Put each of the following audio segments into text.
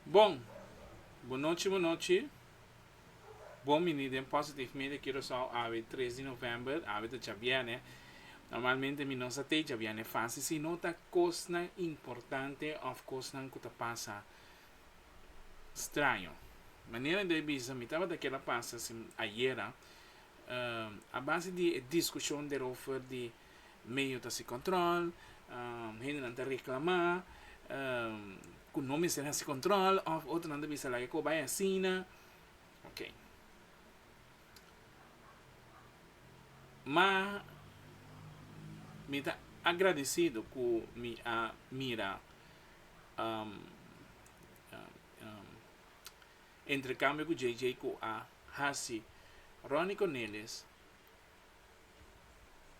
Bon! Bo nochi bo nochi Bon bini den Positive Media Curaçao Awe tres di november Awe ta djabiene Normalmente mi no sa tei djabiene fasi Si no ta kosnan importante Of kosnan ku ta pasa straño Manera mi ta bisa Mi tabata keda pasa si ayera A base di e diskushon derover di Medio ta sin control, hendenan ta reclama cu no mester haci control of otronan ta bisa laga cu a bay asina. Ok. Ma mi ta agradecido cu mi a mira entrecambio cu JJ cu a haci Ronnie Cornelius.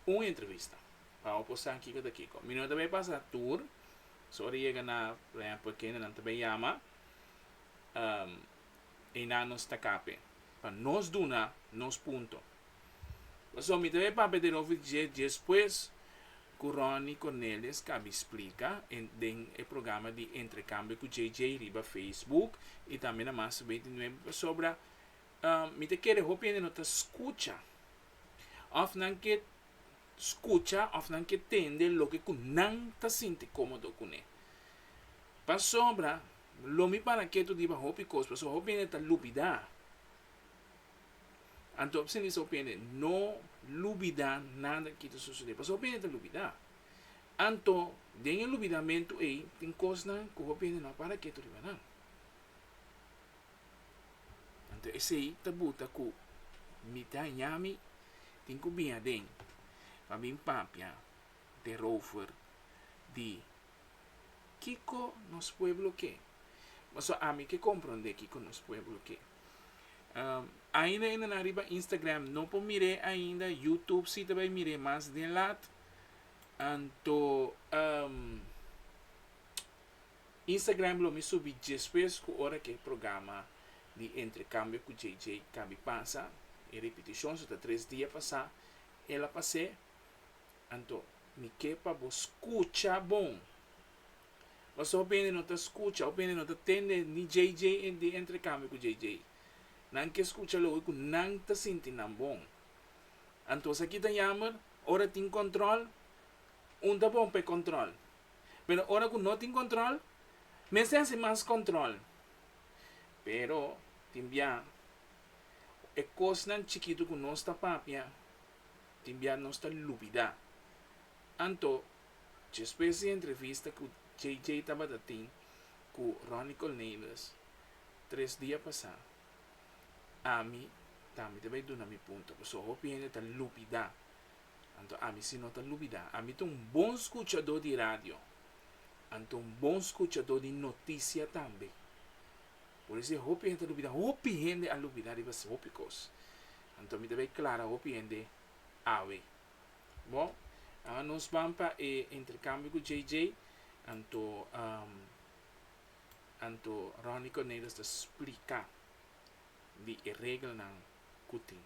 un entrevista pa hopi osan kiko ta kiko mi no ta bay pasa tur so ora yega na por ehemplo kende nan ta bay yama eynan nos ta kape pa nos duna nos punto pasobra mi ta bay papia den ofi dje despues cu Ronnie Cornelius cabi splica den e programa di entrecambio cu JJ riba Facebook y tambe na mas veintinuebe pasobra Um, mi ta kere hopi hende no ta skucha, òf nan ke skucha, òf nan ke tende loke ku nan ta sinti kómodo kuné. Pasobra, lo mi para ketu riba hopi kos, pasobra hopi hende ta lubidá. Anto hopi sindisa hopi hende, no lubidá nada ke ta susedé, pasobra hopi hende ta lubidá. Anto, den e lubidamentu ei, tin kosnan ku hopi hende no a para ketu riba nan. Anto esei ta buta ku mi ta hañá mi tin ku bin aden pa bin papia derover di kiko nos pueblo ke. Pasobra ami ke komprondé kiko nos pueblo ke. Ainda e na nan riba Instagram no por mir'é ainda, Youtube si ta bai mir'é mas den lat, anto Instagram lo mi subi djespues cu ora cu e programa di Entrecambio cu JJ cabi pasa, e repeticion so ta tres dia pasa, el a pas'e, anto mi ke pa bo scucha bon! Paso hopi hende no ta scucha, hopi hende no ta tende ni JJ di Entrecambio cu JJ, nan ke scucha loke cu nan ta sinti nan bon. Anto esaki ta jammer, ora tin control, un ta bon p'e control? pero ora ku no tin kontrol mester hasi mas kontrol, pero tin bia e kosnan chikitu ku nos ta papia tin bia nos ta lubidá, anto despues di e entrevista ku JJ tabata tin ku Ronnie Cornelius tres dia pasá ami tambe ta bai duna mi punto, pasobra hopi hende ta lubidá Anto ami si no ta lubidá, ami ta un bon skuchadó di radio, anto un bon skuchadó di notisia tambe. Por eso e hopi hende a lubidá, hopi hende a lubidá riba hopi kos. Anto mi ta bai klara hopi hende awe. Bo, ora nos ban pa e interkambio ku JJ, anto, anto Ronnie Cornelius ta splika di e regelnan ku tin.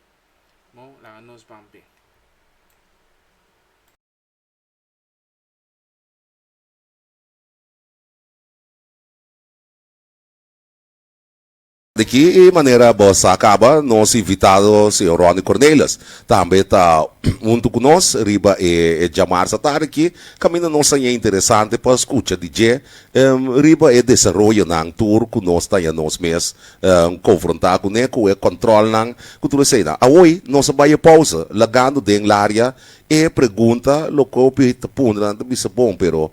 Bo laga nos ban p'e. Di ki manera bo sa kaba, nos invitado señor Ronnie Cornelis tambe ta huntu ku nos riba e djamarsa tarde aki. Kaminda nos haña interesante pa skucha di dje riba e desaroyonan tur ku nos ta haña nos mes konfrontá kuné ku e kòntròlnan ku tur eseinan. Awoy nos a bai e pòusa, lagando den Laria e pregunta loke hopi ta puntra nan ta bisa bon pero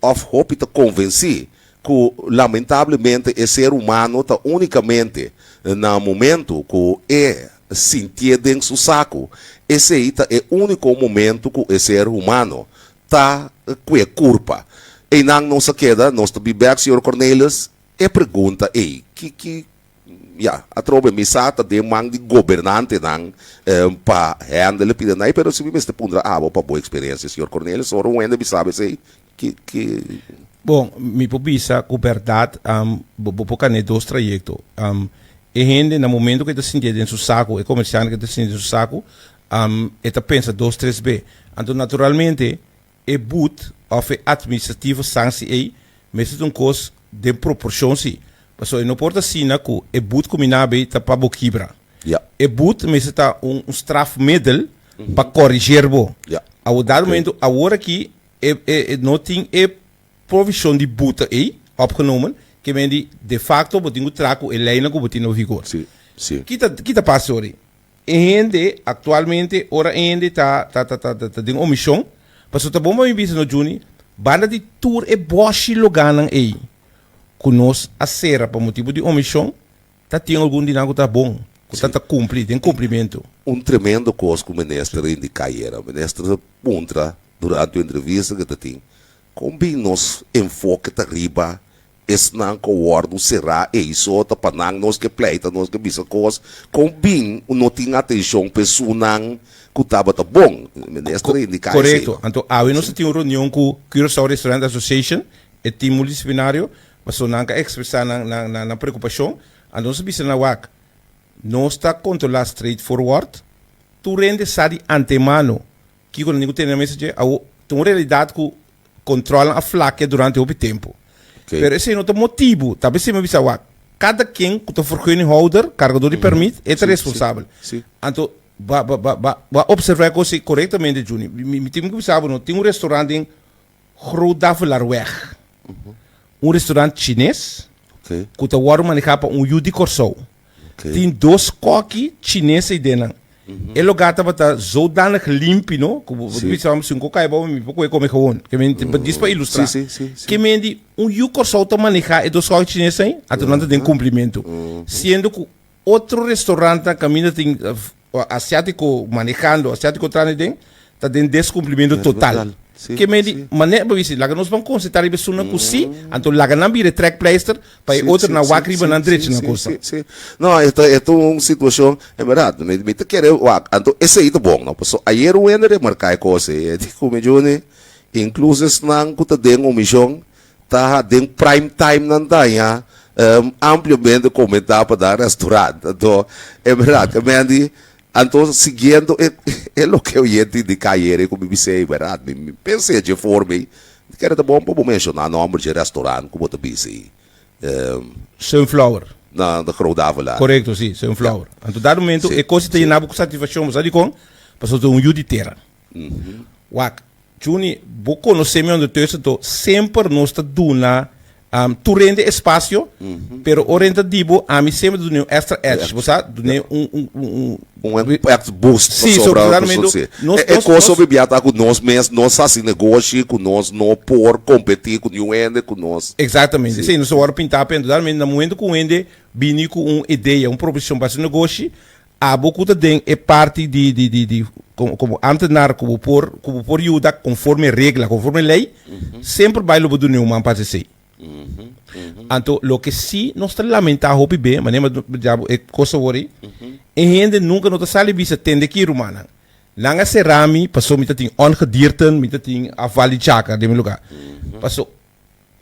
òf hopi ta konvensí ku lamentablemente e ser humano ta únikamente na momentu ku e sintié den su saku, esei ta e úniko momentu ku e ser humano ta ku e kurpa. Einan nos a keda, nos ta bibèk señor Cornelius. E pregunta ei, ki ki ya, atrobe mi sa ta den man di gobernantenan pa hendel e piden ei, pero si mi mester puntra abo pa bo eksperensia señor Cornelius, ora un hende bisa bo esei, ki ki. Bon, mi por bisa ku bèrdat bo por kane dos trayekto. E hende na momentu ku e ta sintié den su saku, e komersiante ku e ta sintié den su saku, e ta pensa dos tres be. Anto naturalmente E bud òf e atministrativo sansi ei mester ta un kos den proporshon si, pasobra e no por ta asina ku e bud ku mi na hab'ei ta pa bo kibra. Ya. E bud mester ta un strafmidel pa kòrisher bo. Ya. Awor dado Ok. momento awor aki e e e no tin e provishon di bud ei opgenomen, ke men di de facto bo tin ku traha ku e leinan ku bo tin nou higor. Si, si. Ki ta ki ta pasa orí? E hende aktualmente ora e hende ta ta ta ta ta den un mishon, paso ta bon pa mi bisa no Junie, banda di tur e boshi loganan ei ku nos a sera pa motibu di un mishon, ta tin algun di nan ku ta bon, ku ta ta kumpli, den kumplimentu. Un tremendo kos ku minister a indiká yera, minister a puntra durante un entrevista ku e ta tin, Kon bin nos enfoke ta riba esnan ku wòrdu será eiso? Ta pa nan nos ke pleita, nos ke bisa kos? Kon bin no tin atenshon pa esunnan ku tabata bon? Minister a indiká eseinan. Anto awe nos a tin un reunion ku Curaçao Restaurant Association, e tin multidisciplinario, paso nan a ekspresá nan preokupashon. Anto nos a bisa nan wak, nos ta kontrolá straight forward, tur hende sa di antemano Kiko nan tin ku tene na mesa dje? Awo, ta un realidat ku kontròlnan a flakia durante hopi tempu. Pero esei no ta motibu. Tal bes Sima bisa awak, kada ken ku ta vergunninghoudar, kargadó di pèrmit, e ta responsabel. Anto, bo a observá e kos ei korektamente, Junie. Mi tin ku bisa bo no, tin un restorant den Groot Davelarweg, un restaurant Chines cu ta wordo maneha pa un yu di Corsou. Tin dos koki Chines ey den nan. E loga tabata zodanig limpi no, cu bo ta bisa si un kok cay bobo mi por coge come gewoon. Dis pa ilustra. Ke men di un yu Corsou ta maneha e dos koki Chines ey, anto nan ta den cumplimento. Siendo cu Otro restaurantnan caminda tin asiatico manejando, asiatico trana y den, ta den descumplimentu total. Ke men di manera pa bisti, laga nos ban concentra riba esunnan cu si, anto laga nan bira e trekpleister pa e otro na wak riba nan derecho na cosa. No, e ta e ta un situacion, en berdad, mi mi ta kere wak, anto esey ta bon, no, pasobra ayer Wender remarca e cosa ey, ey di cu mi Juny, incluso esnan cu ta den un mision, Taha den prime time nan taña um ampliamente comentá pa da restaurant. Anto, e berdad ke men di, anto siguiendo e e loke oyente indica ayere cu mi bisei, berdad, mi mi pens'é dje forma ei, mi kere ta bon pa bo mencioná nomber dje restaurant cu bo ta bisa ei. Um. Sunflower. Na na Groot Davila. Corecto, si, Sunflower. Anto dado momento e cos ei ta yena bo cu satisfaccion, bo sa dicon? Pasobra ta un yu di tera. Wak, Juni, bo konosé mi ondertussen to, semper nos ta duna tur rende espasio, pero ora e ta di bo, ami semper ta dun'é un èkstra èdge, bo sa, dun'é un. Un èks boost pasobra nos e kos so bibia ta ku nos mes no sa hasi negoshi, ku nos no por kompetí ku niun hende, ku nos. Eksaktamente, esei nos a wòrdu pintá, pero indudadamente na momentu ku un hende bini ku un idea, un proposition pa haci un negoshi. Abo ku ta den e parti di di komo antenar ku bo por ku bo por yuda konforme regla, konforme lei, semper bai lo bo dune un man pa hase'sei. Anto loke si nos ta lamentá hopi be, manera mas nos ya bo e kos awor ei, e hende nunka no ta sali bisa tende ki rumannan. Nan a será mi paso mi ta tin ongedierten, mi ta tin a val di chaka den mi lugá. Paso.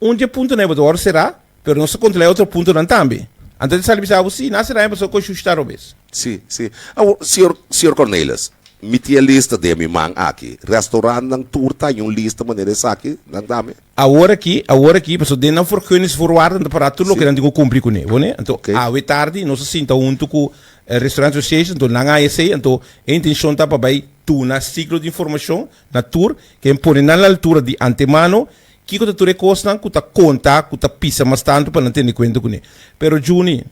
Un dje puntonan e bo ta wòrdu será, pero nos ta kontrolá e otro puntonan tambe. Anto e ta sali bisa abo, Sí, nan a será e pasobra ku e shushi ta robes. Sí, sí. Awor, señor, señor Cornelius, mi tin e lista den mi man aki. Restaurantnan tur ta haña un lista manera esaki, nan ta mi. Awor aki, awor aki, pasobra den nan vergunningsvoorwaarden ta pará tur loke nan tin ku kumpli kuné, bo ne? Anto, Oké. awe tardi nos a sinta huntu ku e Restaurant Association, anto nan a haña esei, anto e intenshon ta pa bai duna siglo di informashon Na tur ke pone nan la altura di antemano, kiko ta tur e kosnan ku ta konta ku ta pisa mas tantu pa nan tende kuenta kuné? Pero Juni,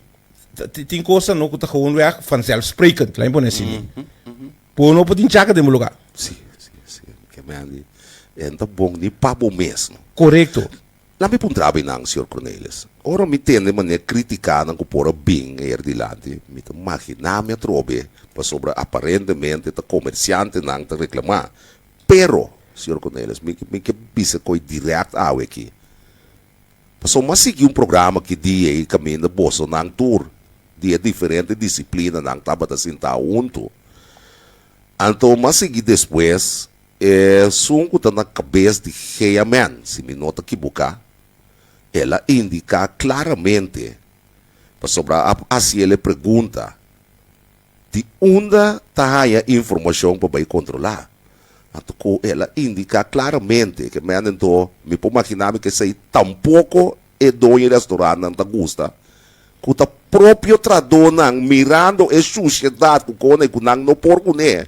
tin kosnan no ku ta gewoon wèg vanzelfsprekend, laat me pone asi mi. Bo no por tin chaka den bo lugá. Si, si, si. Kemèn di, den ta bon ni pa bo mesmu. Korekto. Nan mi puntra bay nan, Señor Cornelius. Ora mi tende mane critica nan cu por a bin ayer dilanti, mi ta magina mi atrobe, pasobra aparentemente ta comerciante nan ta reclama. Pero, Señor Cornelius, mi ke bisa coy direct awe aki. Pasobra mi a sigui un programa aki dia y caminda boso nan tur di e diferente disciplinanan tabata sintao hunto. Anto mi a sigui despues. Esun ku ta na kabes di Heaman, si mi no ta kibuká, el a indiká klaramente, pasobra a hasi el e pregunta, Di unda ta haña informashon pa bai kontrolá? Anto ku el a indiká klaramente ke mènde nto mi por maginá mi k'esei tampoko e doño di restorantnan ta gusta ku ta propio tradónan mirando e shushedat ku kòne ku nan no por kuné.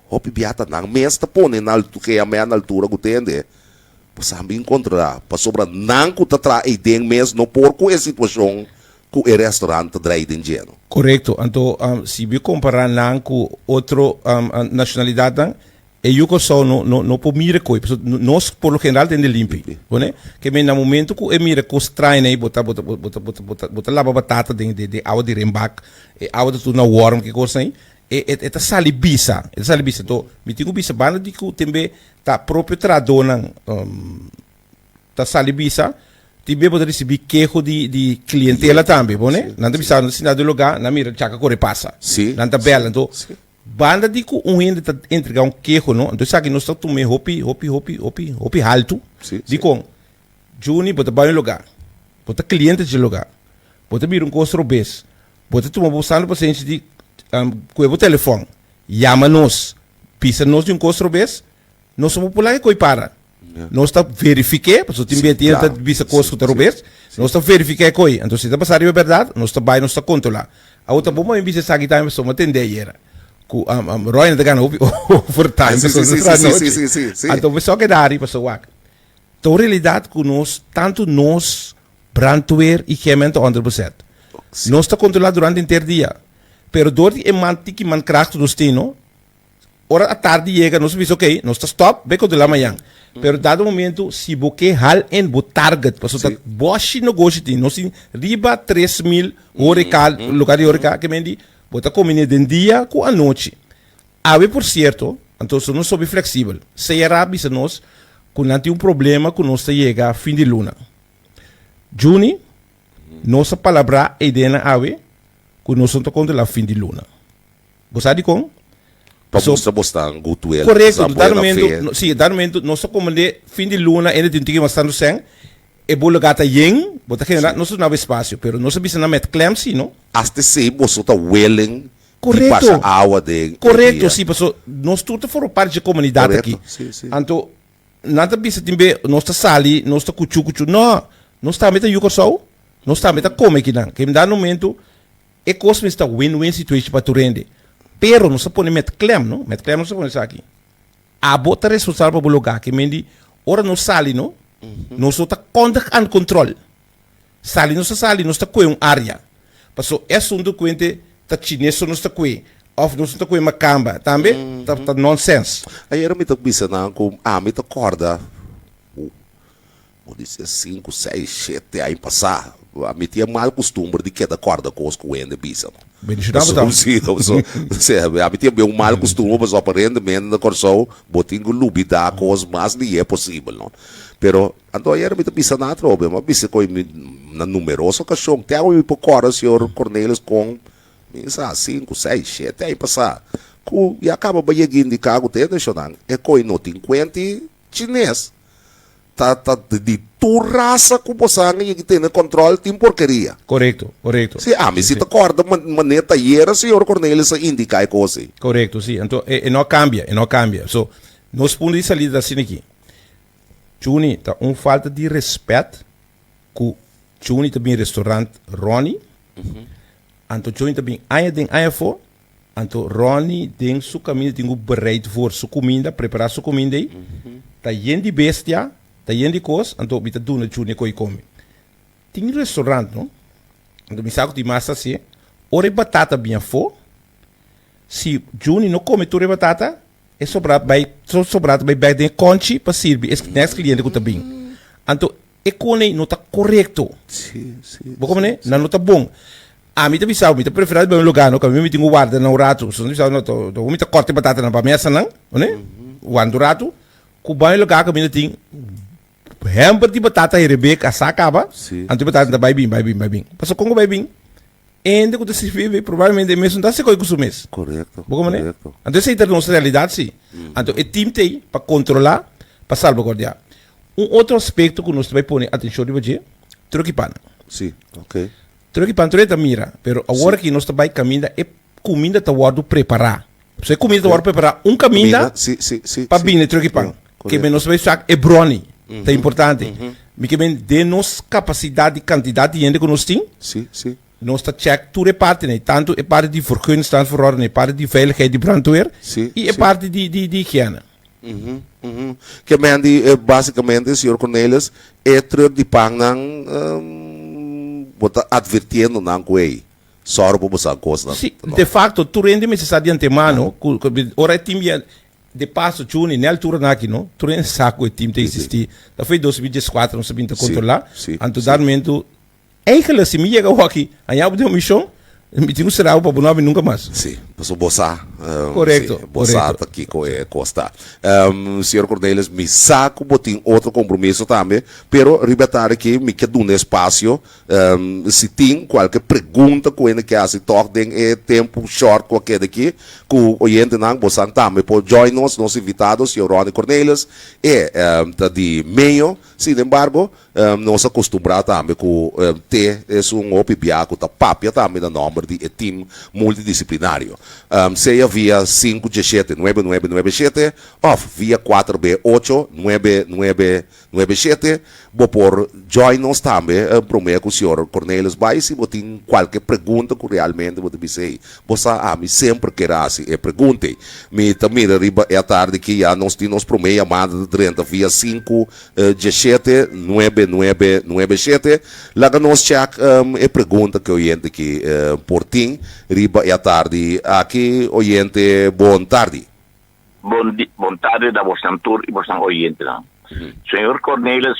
hopi bia ta nan mes ta pone na altu ke a mea na altura ku tende bo sa bin kontrará pasobra nan ku ta traha ei den mes no por ku e situashon ku e restaurant ta drai den djeno. Korekto, anto si bo kompará nan ku otro nashonalidatnan e yu Kòrsou no no no por mira ku ei paso nos por lo general tende limpi bo ne ke men na momento ku e mira kos train ei bo ta bo ta bo ta bo ta bo ta bo ta laba batata den den awa di renbak e awa ta turna wòrm ke kosnan ei E e ta sali bisa, e ta sali bisa. Enton, mi tin ku bisa banda di ku tambe ta propio trahadónan ta sali bisa, tin bia bo ta risibí keho di di klientela tambe, bo ne? Nan ta bisa bo, nan ta sinta den un lugá, nan mira djaka kore pasa. Nan ta bèla. Enton, banda di ku un hende ta entregá un keho no, enton esaki nos ta tum'é hopi, hopi, hopi, hopi, hopi haltu. Dikon? Junie, bo ta bai un lugá, bo ta kliente dje lugá, bo ta mira un kos robes, Bo ta tuma bo santu pasenshi di koe bo telefon, yama nos, bisa nos di un kos otro bes, nos no por pula e koe para. Nos ta verifik'é, pasobra tin bida tin hende ta bisa kos ku ta robes, nos ta verifik'é e koe, anto si ta basá riba bèrdat, nos ta bai nos ta kontolá. Awor ta bon pa mi bisa esaki tambe, pasobra mi a tende ayera ku Royne a ta gana hopi overtime, pasobra mi ta traha nochi, anto mi so a keda ari, pasobra wak, Ta un realidat ku nos, tantu nos, brandweer i Gemmen ta ònder besèt. Nos ta kontrolá durante henter dia, pero dor di e man tiki man krachtu nos tin, no? Ora atardi yega, nos ta bisa, Oké, nos ta stòp, bai kontrolá mañan. Pero dado momentu, si bo ke hal in bo target, pasobra ta bòshi nogoshi tin, nos tin riba tres mil horeca, lugá di horeca, ke men di bo ta kominé den dia ku anochi. Awe por sierto, anto so nos hopi fleksibel. Seyara a bisa nos ku nan tin un problema ku nos ta yega fin di luna. Juni, nos a palabrá e idea nan awe ku noson ta kontrolá fin di luna. Bo sa dikon? Pa Pasobra, mustra bo ta gutuel, nos korekto, ta di dado buena mentu, fe. no, si, di dado mentu nos ta komprendé fin di luna ende tin un tiki mas tantu sèn, e bo lugá ta yen, bo ta generá, nos ta duna bo espasio, pero nos a bisa nan mèt klèmp, si no. Asta esei boso ta welen Correcto. Di pasa awa den e dia. Correcto, si, paso nos tur ta forma parti dje comunidad aki. Correcto, si, si. Anto, nan ta bisa tin be, nos ta sali, nos ta cuchu, cuchu. No, nos tambe ta yu Corsou, nos tambe ta come aki nan. Kemda numento, e cos mes ta win-win situation pa tur hende. Pero, nos ta pone met klem, no? Met klem nos ta pone esaki, abo ta responsabel pa bo loga. Ke men di, ora nos sali, no? Nos lo ta kondig aan kontrol. Sali nos ta sali nos ta kue un area paso e asunto kuente ta chines so nos ta kue of nos no ta kue makamba tambe ta ta nonsense. Ayera mi ta bisa nan ku ami ta korda bo bo di ser sinku sei shete aña pasa ami tin e mal kustumber di keda korda kos ku hende bisa no Bendicionado bo ta. paso si paso si ami tin e mal kustumber paso aparentemente na Kòrsou bo tin ku lubida kos mas lihé posibel no pero Anto ayera mi ta bisa nan atrobe, mi a bisa koe mi na numeroso okashon, te awe mi por kòrda señor Cornelius kon mi sa sinku, seis, shete aña pasá ku i a kaba bayegin di kagu te e nashonnan. E koe no tin kuenta i chines ta ta di tur rasa ku bo sa nan yegi tene kòntròl tin porkeria. Korekto, korekto. Si, ami si ta kòrda mané ta ayera señor Cornelius a indiká e kos ei. Korekto, si. Anto e no a kambia, e no a kambia. So, nos punto di salida ta asina aki. Chuni ta un falta di respet cu Chuni ta bin restaurant Ronnie. Anto Chuni ta bin aña den aña fo. Anto Ronnie den su caminda tin cu bereid voor su cuminda, prepara su cuminda ey. Ta yen di bestia, ta yen di cos, anto mi ta duna Chuni e coi comi. Tin restaurant no, anto mi sa cu tin mas ta haci, ora e batata bin afo, si Chuni no comi tur e batata, e sobrado bai so sobrado bai bek den e konchi pa sirbi e next kliente ku ta bin anto e kone no ta korekto Sí, sí, bo komo ne sí, nan sí. no ta bon ami ta bisa mi ta prefera bai un lugar no kaminda mi tin ku warda nan un ratu so mi ta bisa no to to mi ta kòrta e batata nan pa mesa nan one wan tur ratu ku bai un lugar kaminda tin Por hèmper di bo tata i Rebeka a sa kaba, Sí. anto bo tata ta bai bin, bai bin, bai bin. Pasobra kon ku bai bin, hende ku ta sirbi e bebé probablemente e mes no ta hasi kos ku su mes. Korekto, Bo komprende? korekto. Anto esei ta nos realidat, si. Anto e tim ta ei pa kontrolá, pa salbaguardiá. Un otro aspekto ku nos ta bai pone atenshon riba dje, troki pan. Sí, ok. Troki pan tur e ta mira, pero awor Sí. aki nos ta bai kaminda e kuminda ta wòrdu prepará. So e kumida ta wòrdu prepará un kaminda pa bini tròk di pan. Ke men nos bai sak e bròni ta importante. Mi ke men den nos kapasidat di kantidat di hende ku nos tin, nos ta chèk tur e partinan, tantu e parti di vergunningstandverordening, e parti di veiligheid di brandweer i e parti di higiène. Ke men di basikamente, señor Cornelius, e tròk di pannan bo ta advirtiendo nan ku ei? Sòru pa bo sa kosnan. Sí, de fakto tur hende mester sa di antemano ku ora e tim ya de paso chuni ne altura nan aki no, tur hende sa ku e tim ta eksistí. Ta fo e dos mil dies kuater nos a bin ta kontrolá, anto dat momento enkele si mi yega awor aki a yabu den un mishon mi tin ku sera bo pa bo no habri nunka mas. Sí, pasobra bo sa, sí, bo sa ta kiko e kos ta. Señor Cornelius, mi sa ku bo tin otro kompromiso tambe, pero riba e tarde aki mi ke duna e spasio Si tin cualke pregunta cu hende kier haci tok den e tempo short cu a keda aki cu oyentenan bosan tambe por join nos. Nos invitado Sr. Ronnie Cornelius e ta di Mayo, sin embargo nos a costumbra tambe cu te es un hopi bia cu ta papia tambe na nomber di e team multidisciplinario, sea via sinku dje shete nuebe nuebe nuebe shete of via kuater be ocho nuebe nuebe. Nuebe shete, Bo por join nos tambe promé ku Señor Cornelius bai si bo tin kualke pregunta ku realmente bo ta bisa hei. Bo sa ami semper kere hasi e pregunta ei. Mi ta mira riba e atardi aki ya nos tin nos promé yamada ta drenta via sinku diashete nuebe nuebe nuebe shete. Laga nos check e pregunta ku e oyente aki por tin riba e atardi aki. Oyente bon tardi. Bon di, bon tarde na bosnan tur i bosnan oyentenan. Señor Cornelis.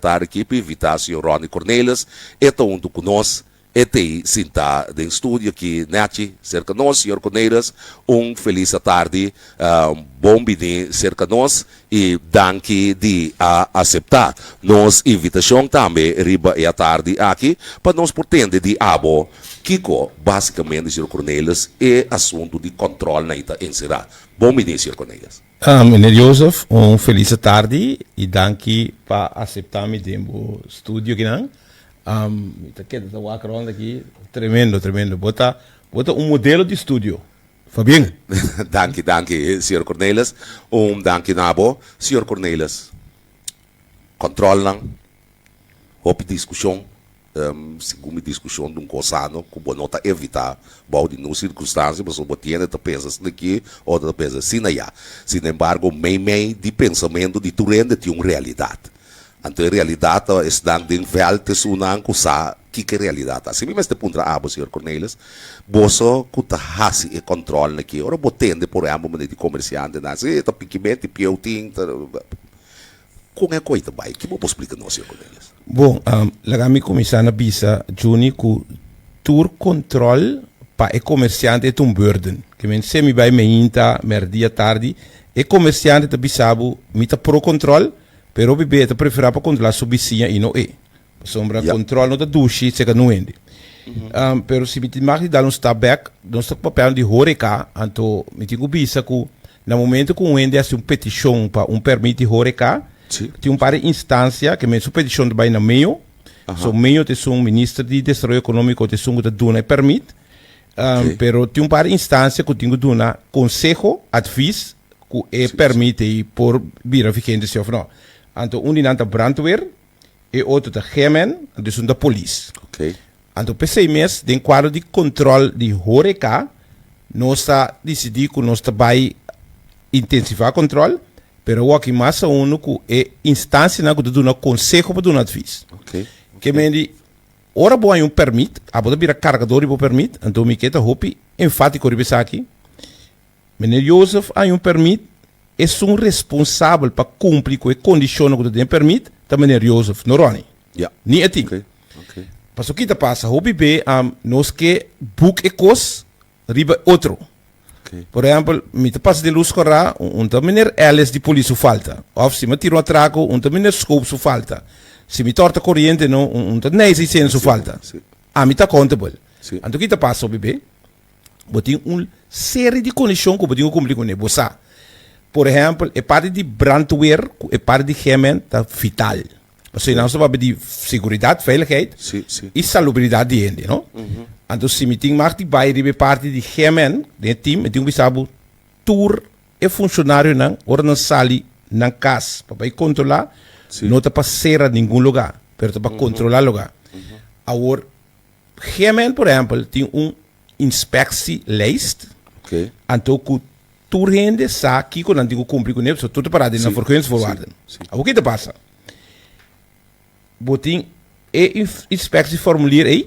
Ta rikipi invitacion Ronnie Cornelis e ta hunto cu nos e tey sinta den studio aki nechi cerca nos señor Cornelis un feliz atardi bon bini cerca nos y danki di a acepta nos invitacion tambe riba e atardi aki pa nos por tende di abo kico basicamente señor Cornelis e asunto di control na y ta encera bon bini señor Cornelis. Meneer Jozef, un felise tardi y danki pa acepta mi den bo studio akinan. Mi ta keda ta wak rond aki. Tremendo, tremendo. Bo ta, bo ta un modelo di studio. Fa bien. Danki, danki, Señor Cornelis. Un danki na bo, Señor Cornelis. Controlnan, hopi discusion. Segun mi diskushon ta un kos sano ku bo no ta evitá. Bou di ningún sirkunstansia pasobra bo tiene ta pensa asina aki o ta pensa asina ayá. Sinembargo, meimei di pensamentu di tur hende tin un realidat. Anto e realidat ta esnan den vèlt di esunnan ku sa kiko e realidat ta. Así mi mester puntra abo, señor Cornelius, boso ku ta hasi e kòntròlnan aki, ora bo tende, por ehèmpel, maneer di komersiantenan, si ta pikibènt, ti pieu tin, ta. Kon e koi ta bai? Kibo bo splika nos e Cornelius? Bo, laga mi kuminsá na bisa Junie ku tur kontròl pa e komersiante ta un bùrden. Ke men se mi bai meinta, mèrdia, tardi, e komersiante ta bisa bo, mi ta pro kontròl, pero hopi b'e e ta preferá pa kontrolá su bisiña i no e. Pasobra kontròl no ta dushi si e ka nuende. Pero si mi tin mag di dal un stap bèk, nos ta papia di horeca, anto mi tin ku bisa ku Na momento cu un hende haci un peticion pa un permit di horeca, Sí. tin un par di instancia que men su peticion ta bay na meo, Aha. so meo ta esun minister di Desaroyo Economico ta esun cu ta duna e permit, um, Ok. pero tin un par di instancia cu tin cu duna conseho, advies, cu e Sí, sí. permit ey por bira vigente si of no. Anto un di nan ta brandweer, E otro ta G-Man, anto esun ta polis. Ok. Anto p'esei mes, den kuadro di kontròl di horeka, nos a disidí ku nos ta bai intensifá kontròl, pero awor aki mas aundu ku e instansianan ku ta duna konseho pa duna atvis. Ok. Ke men di, ora bo a haña un pèrmit, abo ta bira kargadó riba bo pèrmit, anto mi ke ta hopi enfátiko riba esaki. Meneer Jozef a haña un permit, esun responsabel pa kumpli ku e kondishonnan ku ta den e permit ta meneer Jozef, no Ronnie. Ya. Ni e tin. Oké, oké. Paso ki ta pasa, hopi be a nos ke boek e kos riba e otro. Oké. Por ehèmpel, mi ta pasa den lus korá, un, un ta meneer Ellis di polis su falta. Òf si mi a tira un atrako, un ta meneer Schoop su falta. Si mi tòrta koriente, no, un, un ta Nijseisener su Sí, falta. sí. Ami ta accountable. Sí. Anto ki ta pasa hopi be? bo tin un seri di kondishon ku bo tin ku kumpli kuné. Bo sa, por ehèmpel, e parti di brandweer ku e parti di gèmen ta vital. Pasobra esnan stap habla di seguridat, veiligheid, i salubridat di hende, no? Anto si mi tin mag di bai riba e parti di gèmen den e tim, mi tin ku bisa bo tur e funshonarionan ora nan sali nan kas pa bai kontrolá, no ta pa sera ningun lugá, pero ta pa kontrolá lugá. Awor. Hemen, por ehempel, tin un inspectielijst. Oké. Anto ku tur hende sa kiko nan tin ku kumpli ku nel, so tur ta pará den na vergunningsvoorwaarden. Sí, sí. Abo ki ta pasa. Bo tin e inf- inspectieformulier ei,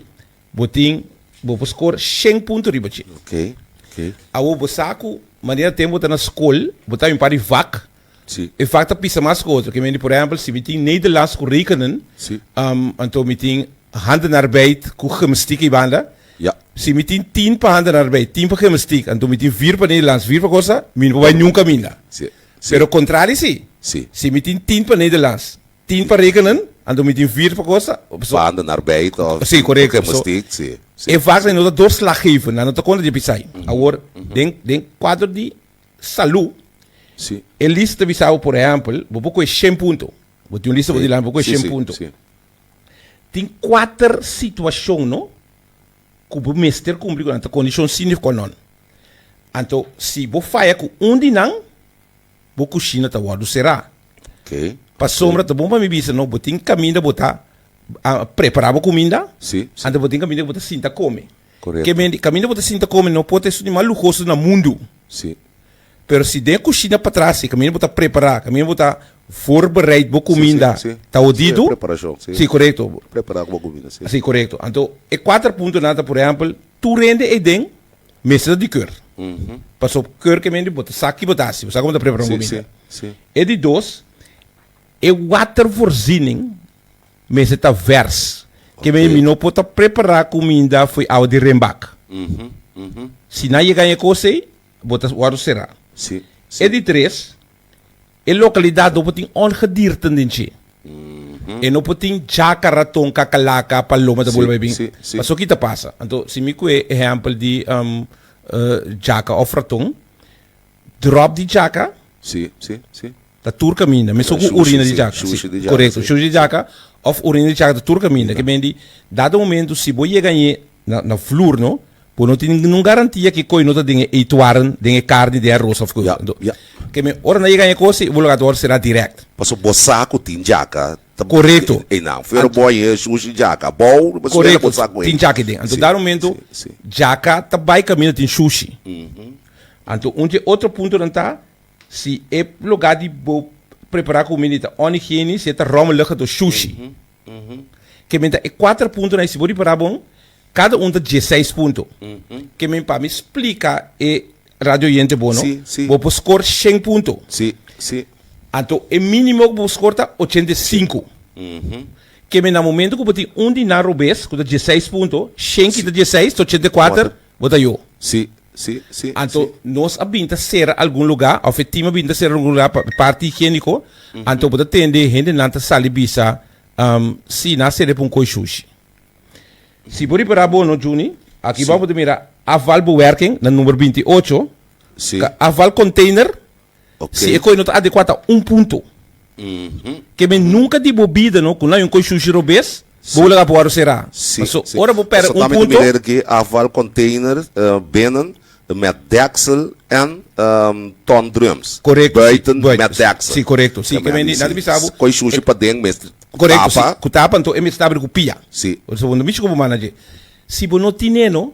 bo tin, bo por score 100 punto riba dje. Oké, oké. Abo bo sa ku manera tem bo ta na skol, bo ta bin para di vak, Si. E fak ta pisa mas ku otro. Ke mende, por ehempel, si mi tin Nederlands ku rekenen, si. Um, anto mi tin handenarbeid ku gymnastiek ei banda. Ja. Si mi tin tin pa handenarbeid, tin pa gymnastiek, anto mi tin vier pa Nederlands, vier pa kosa, mi no por bai nunka kaminda. Si. Si. Pero kontrali si. Si. Si mi tin tin pa Nederlands, tin pa rekenen, anto mi tin vier pa kosa, so. Pa handenarbeid of. Si, korekto. Pa gymnastiek, si. Si. E vak no ta doorslaggevend, nan no ta konta di e pisai. Awor, den, den kuadro di. salu, Si. e lista ta bisa bo, por ehèmpel, bo por kohe shen punto. Bo tin un lista, bo di lami bo kohe Si, shen si, punto. si. Tin kuater situashon no ku bo mester kumpli ku nan, ta kondishon si nef kòl nòn. Anto si bo faya ku un di nan, bo kushina ta wòrdu será. Okay. Pasobra ta bon pa mi bisa no bo tin kaminda bo ta ah, prepara bo kuminda, Si, si. anto bo tin kaminda ku bo ta sinta kome. Correcto. Caminda bo ta sinta come no por ta esun di mas lujoso na mundo. Si. Pero si den cushina patras si caminda bo ta prepara, caminda bo ta voorbereid bo cuminda Si, si, si. ta odido. Su e preparacion, si. Si, correcto. Prepara cu bo cuminda, si. Si, correcto. Anto e cuater punto nan ta, por ehempel, tur hende eyden mester ta di keur. Paso keur ke mindi bo ta sa kibo ta haci, bo sa como ta prepara un Si, cuminda. si, si. E di dos, e water voorziening. Mester ta vers. Keme mi no por ta prepara cuminda fo'i awa di renbak. Si nan yega n'e cos ei, bo ta wòrdu será. E di tres, e localidad no por tin ongedierten den dje. E no por tin djaka, raton, kakalaka, paloma ta bolba ei bin. Paso ki ta pasa. Anto, si mi cu e ehempel di djaka of raton. Drop di djaka. Sí, sí, sí. Ta tur kaminda, mesun ku urina di djaka. Sí, sushi di djaka. Korekto, sushi di djaka òf urina di djaka ta tur kaminda. Ke mindi, dado momentu si bo yega ñe na na flur no, bo no tin ningún garantia ke koe no ta den e eetwaren, den e karni, den e aros òf koe. Ya, ya. Ke men, ora nan yega ñe kose, bo lo gat wòrdu será dirèkt. Pasobra bo sa ku tin djaka ta. Korekto. Einan. Pero bo a yega e sushi di djaka abou, bo suel la bo sa ku e. Korekto, tin djaka den. Anto dado momentu djaka ta bai kaminda tin sushi. Anto un dje otro puntonan ta, si e logá di bo prepará kumini ta ònigeni, si e ta ròmmelige do shushi. Ke men ta e kuater puntonan ei. Si bo ripará bon, kada un ta dieseis punto. Ke men pa mi splika e radio oyente bo, no? Si. Bo por skor shen punto. Si, si. Anto e mínimo ku bo por skor ta ochenta i sinku. Ke men na momentu ku bo tin un di nan robes ku ta dieseis punto, shen kita dieseis ta ochenta i kuater, Bo ta yo. Sí, sí, sí, Anto sí. nos a bin ta sera algun lugá, òf e tim a bin ta sera algun lugá pa parti higiéniko, anto bo ta tende e hendenan ta sali bisa, am, sí, nan a sera pa un koi shushi. Si bo ripará bono, Junie, aki Sí. bou bo ta mira afvalbewerking, na number binti ocho, Sí. ka afvalcontainer, Si e koi no ta adekua ta un punto. Ke men nunka di bo bida no ku nan yon koi shushi robes bo wou laga pa waro sera. Paso ora bo pèrdè un punto. Afval container binnen de met deksel en ton drums buiten met deksel. Si korekto. Si ke men di nan ta bisa bo. Koi shushi paden mester ku tapa. Korekto si ku tapa anto e mester tabri ku pia. Si. Segundo mishi ku bo mana dje. Si bo no tine no.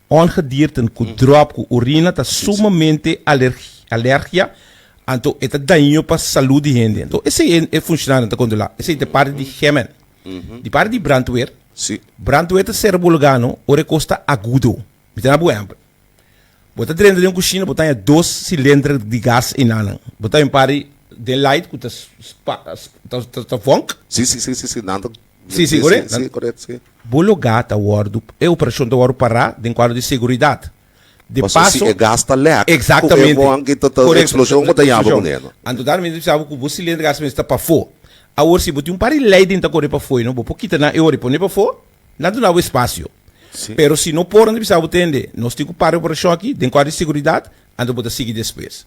Ongedierten cu drop cu orina ta sumamente alergia, anto e ta daño pa salud di hende. Anto esey e funcionario ta controla. Esey ta parti di Gemen. Di parti di brandweer, brandweer ta ser bo lugar no ora e cos ta agudo. Mi ta na bo ehempel. Bo ta drenta den un cushina, bo ta haya dos cilindro di gas eyna'nan. Bo ta haya un par di light cu ta vonk. Si, si, koré. Si, si, koret, si. Bo lugá ta wòrdu, e operashon ta wòrdu pará den kuadro di seguridat. De paso. Paso si e gas ta lèk. Ku e Eksaktamente. won ki ta ta Korekto. eksploshon bo ta yama Eksploshon. kun e, no? Anto dal mester bisa bo ku bo silindro gas mester ta pafó. Awor si bo tin un par di lei den ta kore pafó i no bo por kita nan e ora i pone pafó, nan duna bo espasio. Si. Pero si no por nan ta bisa bo tende nos tin ku para e operashon aki den kuadro di seguridat, Anto bo ta sigui despues.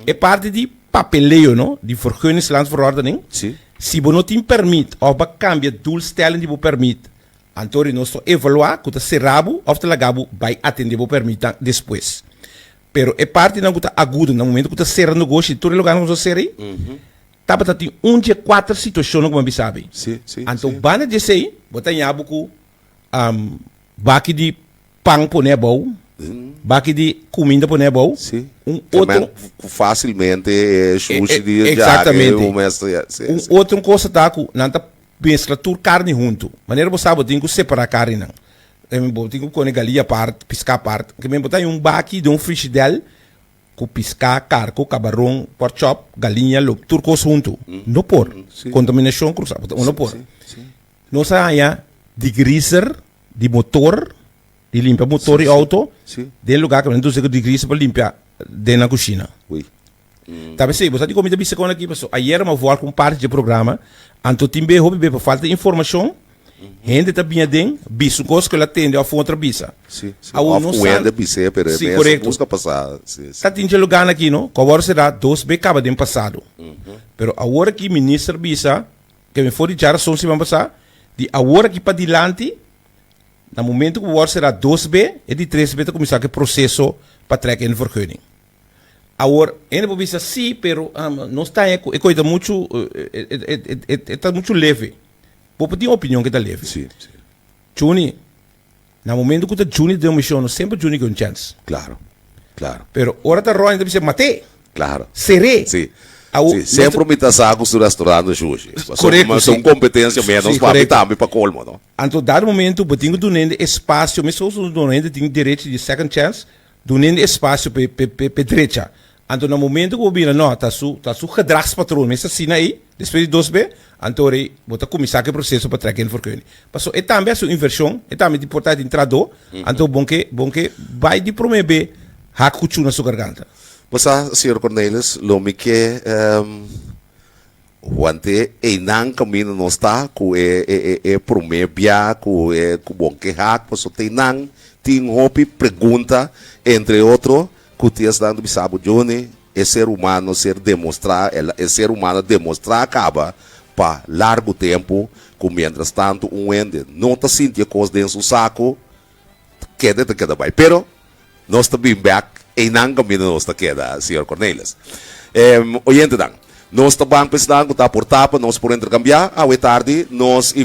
E parti di papeleo no, di vergunningsland verordening, Sí. si bo no tin permit of bo a cambia doelstelling di bo permit, anto ri nos ta evalua cu ta cera bo of ta laga bo bay atende bo permitnan despues. Pero e partinan cu ta agudo na momento cu ta cera negoshi di tur e lugarnan cu nos a cera ey, tabata tin un dje cuater situacionnan cu bo a bisa abi. Sí, sí, Anto sí. banda di esey bo ta yabu cu am, baki di pan pone abou, baki di kuminda pone abou, un otro. Ku fasilmente e shushi di e ja e un mes ta ya. Un otro kosa ta ku nan ta meskla tur karni huntu. Manera bo sa bo tin ku separá karninan. Bo tin ku kone galí apart, piská apart. Ke men bo ta haña un baki den un frishidèl ku piská, karko, kabaron, pòrk chòp, galiña, lob, tur kos huntu. No por. Kontaminashon krusá. No por. Nos a haña digriser. di motor, di limpia motor di auto, den lugar que nos de grisa para limpiar den la cocina. Oui. Mm. Tabe sei, bosa di comida bisa con aquí, paso ayer ma voar con parte de programa, anto timbe hopi be falta información, gente ta bien den, bisa un cosa que la tende of otra bisa. Sí, sí. A uno of wende bisa, pero sí, mesa correcto. gusta pasar. Sí, sí. Ta tinche lugar aquí, no? Cobor será dos be caba den pasado. Mm -hmm. Pero ahora aquí minister bisa, Te me for di djarazon siman pasá, di awor aki pa dilanti, na momento ku bo wòrdu será dos be, e di tres be ta kuminsá ku e proseso pa trèk en vergunning. Awor, hende por bisa sí, pero nos taña ku e kos ei ta muchu, e ta muchu leve. Bo por tin opinion ku e ta leve. Chuni. Na momento cu ta juni den un mision, no semper juni cu un chance. Claro. Claro. Pero ora ta rònt, ta bisa, Maté! Claro. Seré! Sí. Awo, Sí, nos semper ta- mi ta sa cu su restaurant ta sushi. Pasobra Correcto, mi ta sí. un competencia menos Sí, pa mi correcto. tambe, pa colmo, no? Anto dado momento, bo tin cu dun'e espacio, mescos cu dun'e tin derecho di second chance, Dun'é espasio p'e drecha. Anto na momento ku bo bira, no, ta su, ta su gedragspatroon mes asina ei, despues di dos be, anto rei bo ta kuminsá ku e proseso pa trèk den forkeuning. Pasó e tambe a su invershon, e tambe di portá den tradó, anto bon ke, bon ke bai di promé be hak ku chu na su garganta. Bo sa, señor Cornelis, lo mi ke. Want e einan caminda nos ta cu e e e e prome bia cu e cu bon kehac paso te nan tin hopi pregunta entre otro cu ti estando bisa bo Johnny e ser humano ser demostra e la e ser humano demostra caba pa largo tempo cu mientras tanto un wende no ta sinti e cos den su saco kende ta keda bai pero nos ta bin bek einan kaminda nos ta keda señor Cornelis em oyentenan nos ta ban pesnan ku ta por ta pa nos por interkambia awe tardi nos i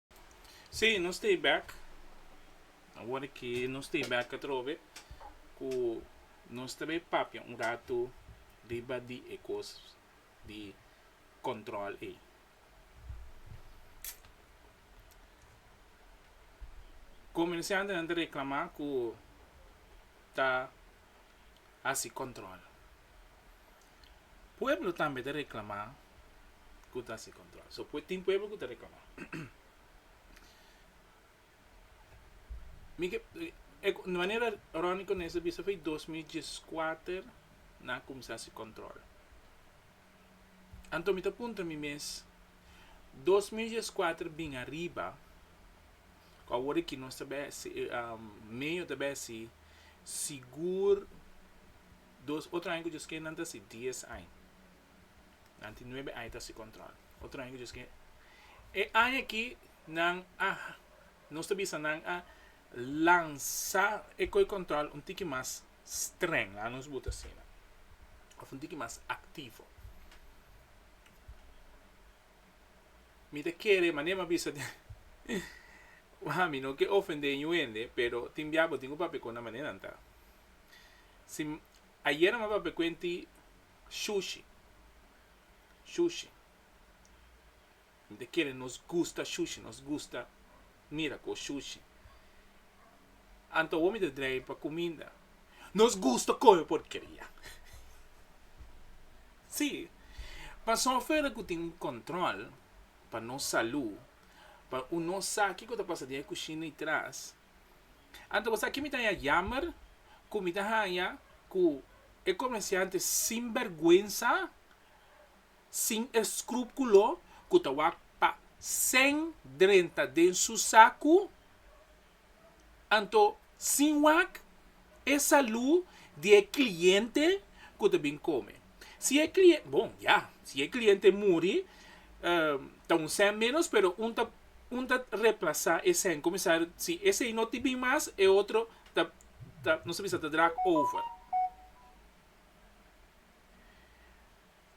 Sí, nos ta e bek. Awor ki nos ta e bek atrobe ku nos ta bai papia un ratu riba di e kos di kòntròl ei. Komersiantenan ta reklamá ku ta hasi kòntròl. Pueblo tambe ta reclama cu ta haci control. So, tin pueblo cu ta reclama. Mi ke, e manera Ronnie Coneis ta bisa foi dos mil dieskuater nan a cuminsa haci control. Anto mi ta puntra mi mes, dos mil dieskuater bin ariba, cu awor aki nos ta bay haci, meyo ta bay haci sigur, Dos otro aña cu dje skenan ta si dies aña. Nan tin nuebe aña ta si control. Otro aña cu dje ske. E aña aki nan a nos ta bisa nan a lansa e coi control un tiki mas streng, laga nos buta asina, of un tiki mas activo. Mi ta kere, manera mi a bisa den, wak mi no ke ofende yu hende, pero tin biaha bo tin cu papia cu nan manera nan ta. Si ayera mi a papia cu enti shushi, shushi, mi ta kere nos gusta shushi, nos gusta mira cu shushi. Anto awor mi ta drei pa cuminda. Nos gusta coyo porkeria. Si, pasobra afuer la cu tin un control pa nos salud, pa un no sa kico ta pasa den e cushina y tras. Anto bo sa ki mi ta haña yammer ku mi ta haña ku e komensiante sinbèrgwensa, sin eskrúpulo ku ta wak pa sèn drenta den su saku, anto sin wak e salú di e kliente ku ta bin kome. Si e kliente, bon, ya, si e kliente muri, ta un sèn ménos, pero un ta un ta replasá e sèn kuminsar si esei no tin bin mas, e otro ta ta nos ta bisa ta draag over.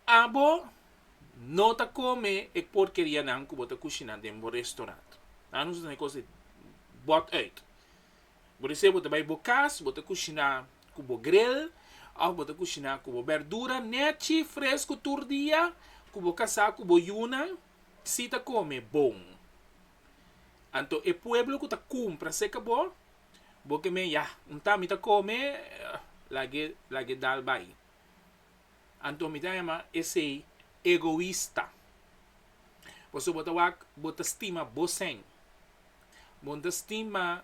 Abo no ta kome e porkerianan ku bo ta kushiná den bo restorant. Nan nos ta tene kos di bòt ùit. Bo ta ser bo ta bai bo cas bo ta cushina cu bo gril of bo ta cushina cu bo berdura nechi fresco tur dia cu bo casa cu bo yunan si ta come bon anto e pueblo cu ta cumpra seca bo bo ke me yah un ta mi ta come lag'e lag'e dal bai. Anto mi ta yama esei egoista. Pasobra bo ta wak bo ta stima bosen. Bo no ta stima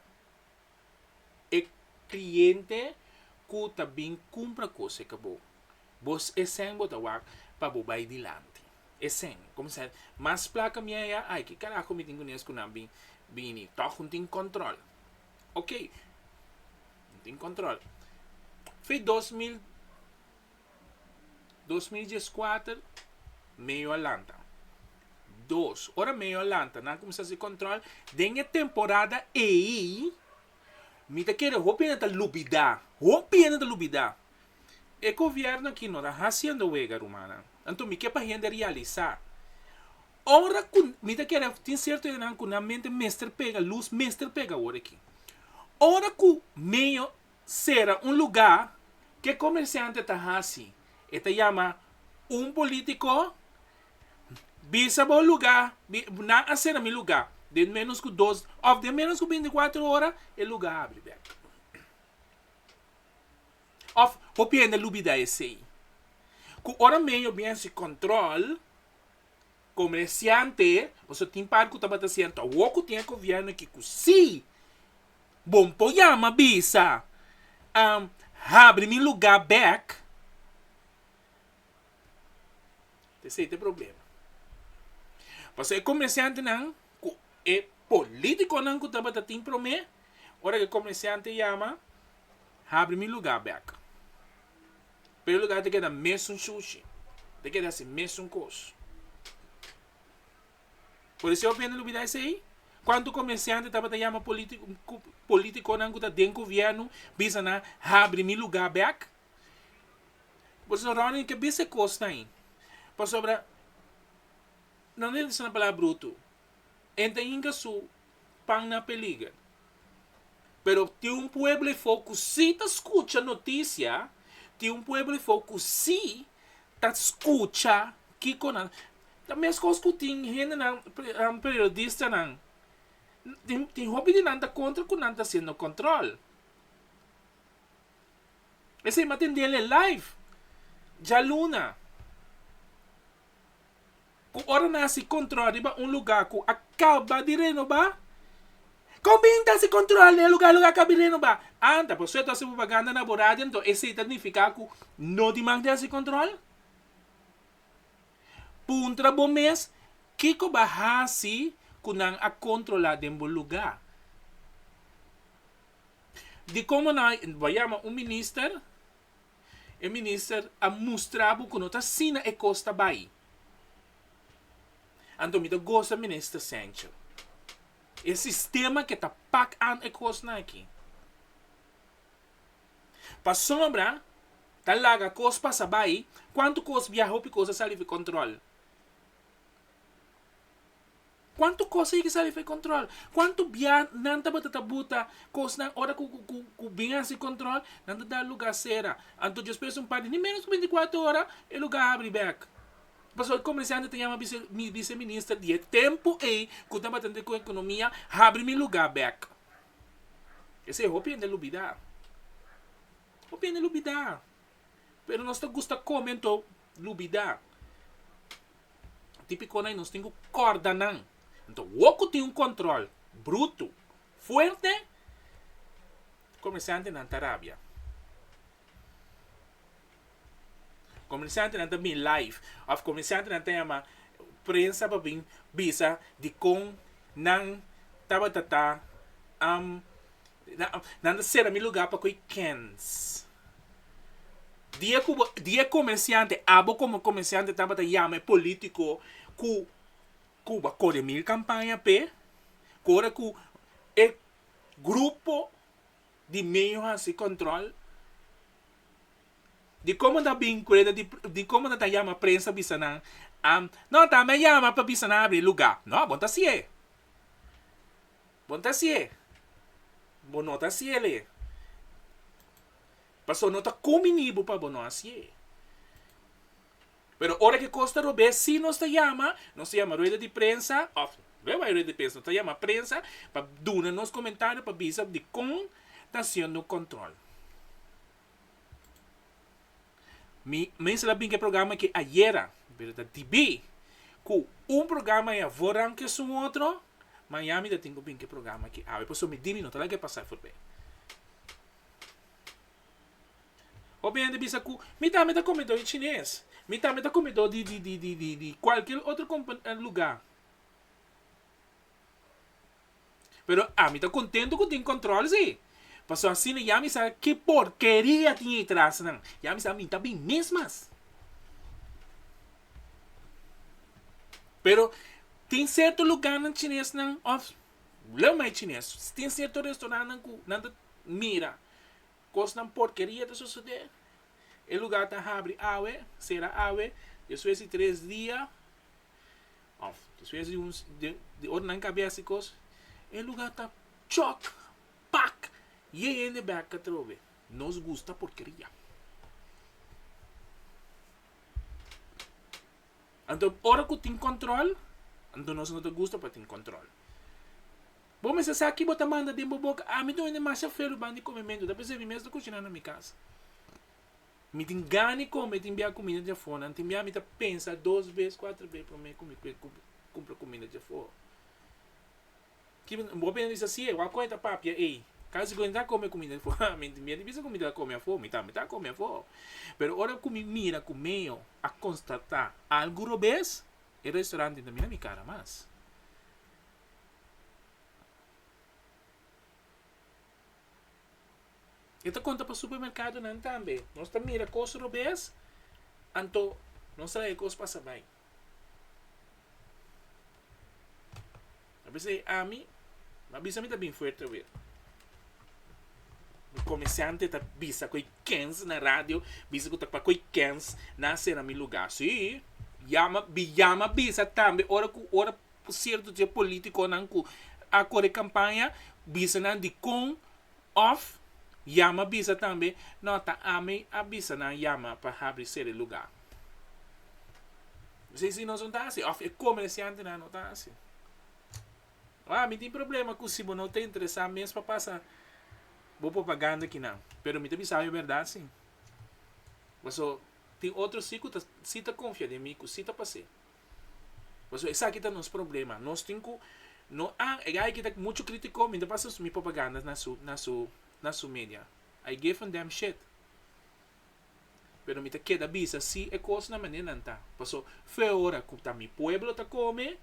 e cliente cu ta bin cumpra cos eca bo. Bo esen bo ta wak pa bo bay dilanti. Esen. Comenzar mas placa mi a ya, ay, ki carajo mi tin cu nes cu nan bin bini. Toch no tin control. Ok. No tin control. Fe dos mil Dos mil dies kuater meyo a lanta dos ora meyo a lanta nan a kuminsá hasi kòntròl den e temporada ei mi ta kere hopi hende ta lubidá hopi hende ta lubidá e gobièrnu aki no ta hasiendo wega rumannan anto mi ke pa hende realisá ora ku mi ta kere tin sierto hende nan ku nan mente mester pega lus mester pega awor aki ora ku meyo sera un lugá ku e komersiante ta hasi. E ta yama un polítiko, bisa bo lugá, nan a sera mi lugá. Den ménos ku dos, òf den ménos ku binti kuater ora e lugá a abri bèk. Òf, hopi hende a lubida esei. Ku ora medio biens di kòntròl. comerciante, pasobra tin parte cu tabata siento awor cu tin e gobierno ki cu si, bo no por yama bisa habri mi lugar bek, esey ta e problema. Pasobra e comerciantenan cu e politiconan cu tabata tin prome, ora cu e comerciante yama, habri mi lugar bek. pero e lugar ta keda mesun shushi, ta keda si mesun kos. Por eso hopi hende lo bira esei, cuanto comerciante tabata yama politiconan cu ta den gobierno bisa nan habri mi lugar bek, pasobra Ronnie ke bisa e cosnan ahi, pasobra no lo disna palabra bruto. e ta hinga su pan na peliger. Pero tin un pueblo efo ku sí ta skucha notisia, tin un pueblo efo ku sí ta skucha kiko nan. Ta meskos ku tin hendenan, periodistanan, tin hopi di nan ta kontra ku nan ta hasiendo kòntròl. Esei mi a tendel e live djaluna. ku ora nan hasi kontrol riba un lugá ku a kaba di renobá, kon bin ta hasi kontrol den e lugá, e lugá kaba di renobá? Anta por suerte hasi propaganda na bo radio enton esei ta nifiká ku no di mag di hasi kontrol? Puntra bo mes, kiko bo a hasi ku nan a kontrolá den bo lugá? Dikon bo na bo a yama un minister? E minister a mustra bo ku no ta asina e kos ta bai. Anto mi ta gosa minister Sencho. E sistema ke ta pak an e kosnan aki. Pasobra ta laga kos pasa bai, kuantu kos biaha hopi kos a sali for kontrol. Cuanto cosa yeke sali for e control. Cuanto bia nan tabata ta buta cosnan ora cu cu cu bin a haci control nan ta dal lugar cera. Anto Dios pes un parti ni menos cu binti cuater ora e lugar habri bek. Pasobra e comerciante ta yama bice bice minister di e tempo ey cu tabatande cu economia habri mi lugar bek. Esey hopi hende a lubida. Hopi hende a lubida. pero nos ta gusta come anto lubida. Di picona nos tin cu corda nan. Anto wou cu tin un control bruto, fuerte, comerciantenan ta rabia. Comerciantenan ta bin live of comerciantenan ta yama prensa pa bin bisa dicon nan tabata ta Nan ta sera mi lugar pa coge kens. Dia cu bo, dia e comerciante, abo como comerciante tabata yama e politico cu, cu bo a core mil campaña p'e, cu ora cu e grupo di medio haci control, di como ta bin cu reda di, di como ta yama prensa bisa nan, am, no, ta me yama pa bisa nan abri e lugar. No, bo no ta haci'e. Bon ta si'e. Bo no ta si'e lei. Pasobra no ta kuminí bo pa bo no a si'e. Pero ora ku e kos ta rob'é, sí nos ta yama, nos ta yama rueda di prensa, òf, no e bai rueda di prensa, nos ta yama prensa pa duna nos komentario, pa bisa dikon ta hasiendo kontrol. Mi mester la bin ke programa ke ayera, pero ta dibí ku un programa ya wòrdu a un kesun otro, Miami ta tin ku bin ke programa ke awe. Pasobra mi di mi no ta laga pasá forbé. Hopi hende bisa ku mi tambe ta komedó di chines, mi tambe ta komedó di di di di di kualkier otro kompa lugá. Pero ami ta contento cu tin control si, pasobra asina ya mi sa ki porkeria tin ey tras nan, ya mi sa ami ta bin mes mas. Pero tin cierto lugarnan chinesnan of leu mai chines tin cierto restaurantnan cu nan ta mira cosnan porkeria ta sucede, e lugar ta habri awe, cera awe, despues di tres dia. Of despues di un di ora nan kabes e kos e luga ta chòk pak ye hende bèk atrobe nos gusta porkeria anto ora ku tin kòntròl anto nos no ta gusta pa tin kòntròl bo mester sa ki bo ta manda den bo boka ami ta oye demasiado felu bandi kome mi ta pensé mi mes ta kushiná na mi kas. Mi tin gana di kome, tin bia kuminda dje for nan, tin bia mi ta pensa dos bes, kuater bes prome ku mi kumpra kuminda dje for. Ki bo bo pensa di sa sier, wa kue ta papia ei? Kasi kue mi ta kome kuminda dje for, ha mi tin bia di bisa ku mi ta kome afor, mi tambe ta kome afor. Pero ora ku mi mira ku meo a konstata algu robes, e restaurante tin ta mira mi kara mas. E ta konta pa supermerkadonan tambe. Nos ta mira kos robes, anto nos ta laga e kos pasa bai. A bisa e ami, a bisa mi ta bin fuerte awe. Mi komersante ta bisa ku e kens na radio, bisa ku ta pa ku e kens na sera mi lugar. Si, yama, bi yama bisa tambe ora ku, ora Cierto dje politiconan cu a core campaña bisa nan dicon of yama bisa tambe, no ta ami a bisa nan yama pa habri sere lugar. Si si nos no ta haci of e comerciantenan no ta haci. Ho ami tin problema cu si bo no ta interesa mes pa pasa bo propaganda aki nan. Pero mi ta bisao e berdad si. Paso tin otro si cu ta si ta confia den mi cu si ta pace. Pasobra esaki ta nos problema. Nos tin ku no a e gay aki ta muchu kritiko mi ta pasa mi propaganda na su na su na su media I give a damn shit pero mi ta keda bisa si e kos na manera nan ta paso feo ora ku ta mi pueblo ta kome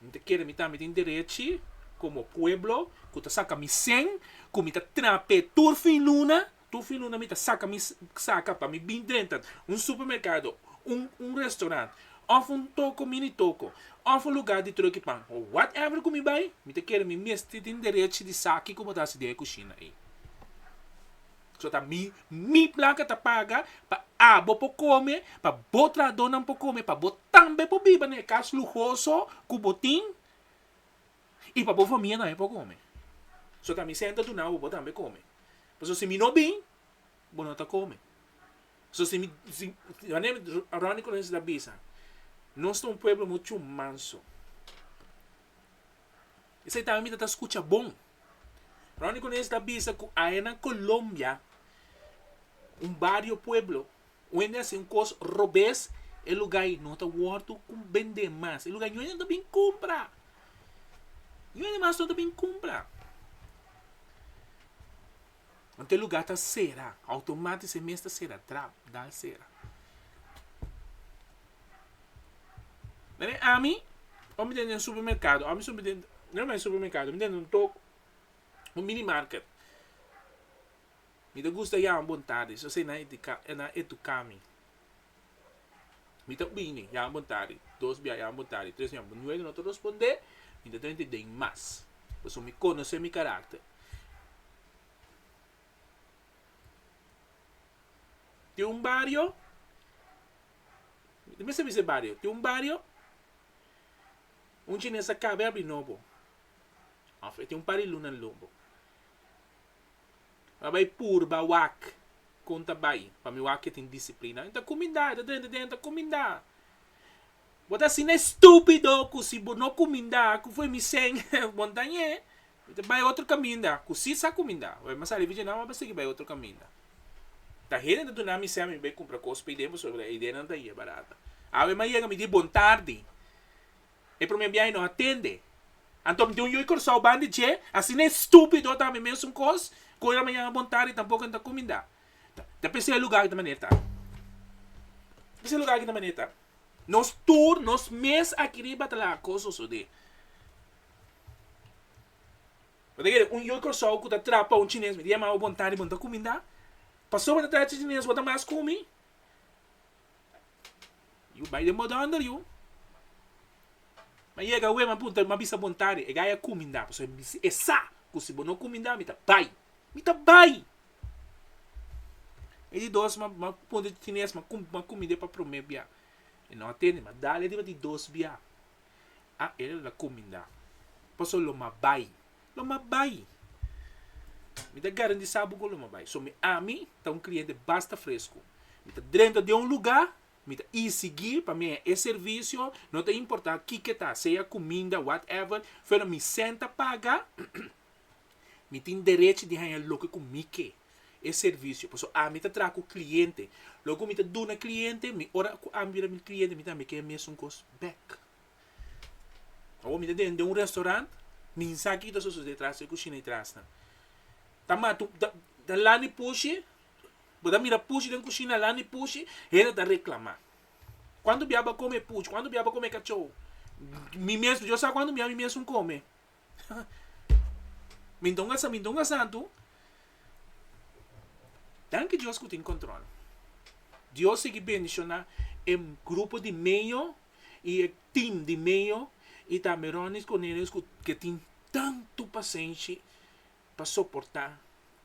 Mi ta kere mi tambe tin derechi komo pueblo ku ta saka mi sèn ku mi ta trap'é tur fin luna, tur fin luna mi ta saka mi saka pa mi bin drenta un supermerkado, un un restaurant òf un toko mini toko òf un lugá di tròki pan òf whatever ku mi bai, mi ta kere mi mester tin derechi di sa ki ku bo ta hasi den e kushina ei. So ta mi, mi plaka ta paga pa abo por come, pa bo trahadornan por come, pa bo tambe por biba na e cas luhoso cu bo tin y pa bo famia tambe por come. So ta mi senta duna abo bo tambe come. Pasobra si mi no bin, bo no ta come. So si mi, si, manera Ronnie Colons ta bisa, nos ta un pueblo mucho manso. Esey tambe mi ta ta scucha bon. Ronnie Cuneus ta bisa cu ahe na Colombia, un bario pueblo, wende a haci un cos robes, e lugay no ta wordo bende mas. E lugay no ta bin cumpra. No ta bin cumpra. Ant e lugá ta sera. Outomático e mes ta sera. Trap, dal sera. Nan e ami, ora mi den den supermercado, ora mi so den, no me supermercado, mi den un tok, un mini market. Mi ta gusta yama bon tarde, so esei nan e tucami. Mi ta bini, yaga bon tardi. Dos bia, yaga bon tardi. Tres bia, yaga bon tardi. Nuebe, no ta rospondé, mi ta trenta i den mas. Pasobra mi konosé mi karakter. Tin un bario, mi ta mester bisa e bario, tin un bario, un chines a kaba e abri nobo, òf e tin un par di lunan lombo. a bai purba wak kon ta bai pa mi wak ke tin disiplina i ta kuminda i ta drenta den i ta kuminda bo ta asina estupido ku si bo no kuminda ku fo i mi seng bo no ta ñe mi ta bai otro kaminda ku si sa kuminda bo mi a sali vigenan bo a sigui bai otro kaminda ta hende ta duna mi sèn mi bai kumpra kos paiden pasobra ideanan ta yebarato awe mi a yega mi di bon tardi E promé biahe nos a tende. Anto mi tin un yu i Curaçao ban di dje, asina e stupido tambe mesun cos, cu ora mañana bon tardi tampoco e no ta cuminda. Ta p'esei e lugar aki ta manera ta. Ta p'esei e lugar aki ta manera ta. Nos tur, nos mes aki riba ta laga cos sosode. Bo ta kere un yu i Curaçao cu ta traha pa un chines, mi ta yama bo bon tardi, bo no ta cuminda? Pasobra bo ta traha chin-chines bo ta mas cumi? Yu bai den bodonder yu. Mi yega wei mi a punta mi a bisa bon tarde e gay a cuminda pasobra mi bisa esa cu si bo no cuminda mi ta bai mi ta bai e di dos mi a punta di tines mi a cuminde pa prome bia e no a tende mi a dale riba di dos bia a e lo a cuminda pasobra lo mi a bai lo ma bai. Mi ta garantisá bo ku lo ma bai. So mi ami ta un kliente basta fresku. Mi ta drenta den un lugá, mi ta isigí pa mi haña e servisio, no ta importá kiko ta, sea kuminda, whatever, pero mi senta paga, mi tin derech di haña loke ku mi ke. E servisio. Pasobra ami ta traha ku kliente. Loke ku mi ta duna kliente, mi ora ku ami bira mi kliente mi tambe ke haña mesun kos bèk. Awor mi ta den den un restaurant, mi sa ki ta sosode tras e kushina i trasnan. Ta matu ta lani pushi, bo ta mira pushi den kushina, lani pushi, hende ta reklamá. Kuantu biaha bo a kome pushi? Kuantu biaha bo a kome kachou? Mi mes, yo sa kuantu biaha mi mes un kome. mi ta un mi ta un asantu. Danki dios ku tin kontrol. Dios sigui bendishoná e grupo di meño y e team di medio y tambe Ronnie Cornelius cu ke tin tanto pasenshi pa soporta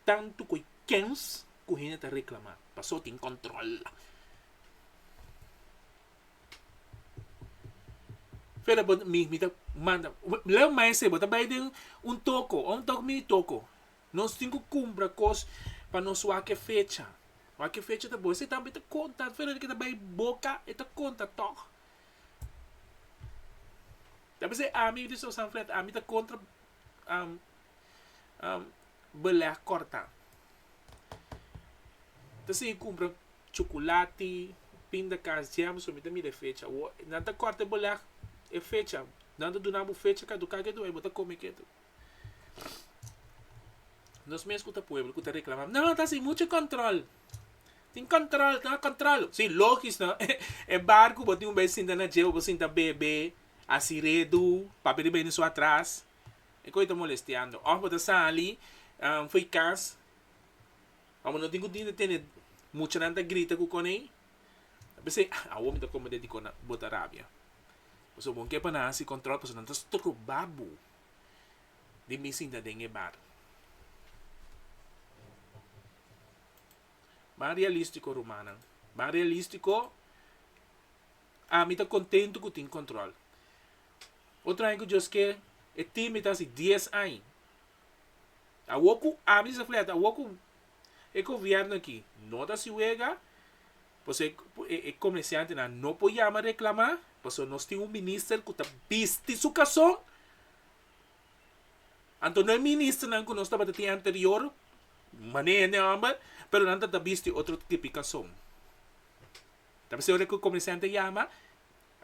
tanto cu y kens cu hende ta reclama paso tin control. Mi ta manda, leu maese bo ta bay den un toko, un tok mini toko. Nos tin ku kumpra kos pa nos wak e fecha. Wak e fecha ta bon. Esei tambe ta konta. At Fernando ke ta bai boka, e ta konta tòg. Ta p'esei ami, yu di Sor Sanfleta, ami ta kontra belèt kòrtá. Ta sigui kumpra chukulati, pindakans, jèm, so mi ta mira e fecha. Nan ta kòrta e belèt e fecha. Nan ta duna bo fecha kaduká ketu ei bo ta kome ketu. Nos mes ku ta pueblo ku ta reklamá, no, ta sin muchu kòntròl. Tin kòntròl, tin kòntròl. Sí, lógis no. E barku bo tin un bes sinta na djeu, bo sinta bebe, a siredu, papia di beni su atras. E kos ei ta molestiando. Òf bo ta sali for e kas, ora bo no tin ku tin ta tene muchanan ta grita ku konei, a p'esei awor mi ta komprendé dikon bo ta rabia. Pasobra bo no ke pa nan hasi kòntròl, pasobra nan ta stroba bo. di mi sinta den e bar. Ban realístiko, rumannan. Ban realístiko, ami ta kontentu ku tin kòntròl. Otro aña ku djos ke e timbe ta hasi dies aña. Awor ku ami sa flat, awor ku. E gobièrnu aki no ta si wega, pasobra ku e komersiantenan no por yama reklamá, pasobra nos tin un minister ku ta bisti su kason. Anto no e ministernan ku nos tabata tin anterior, manera hende a hòmber, pero nan ta bisti otro tipi kason. Ta mester ora ku e komersiante a yama,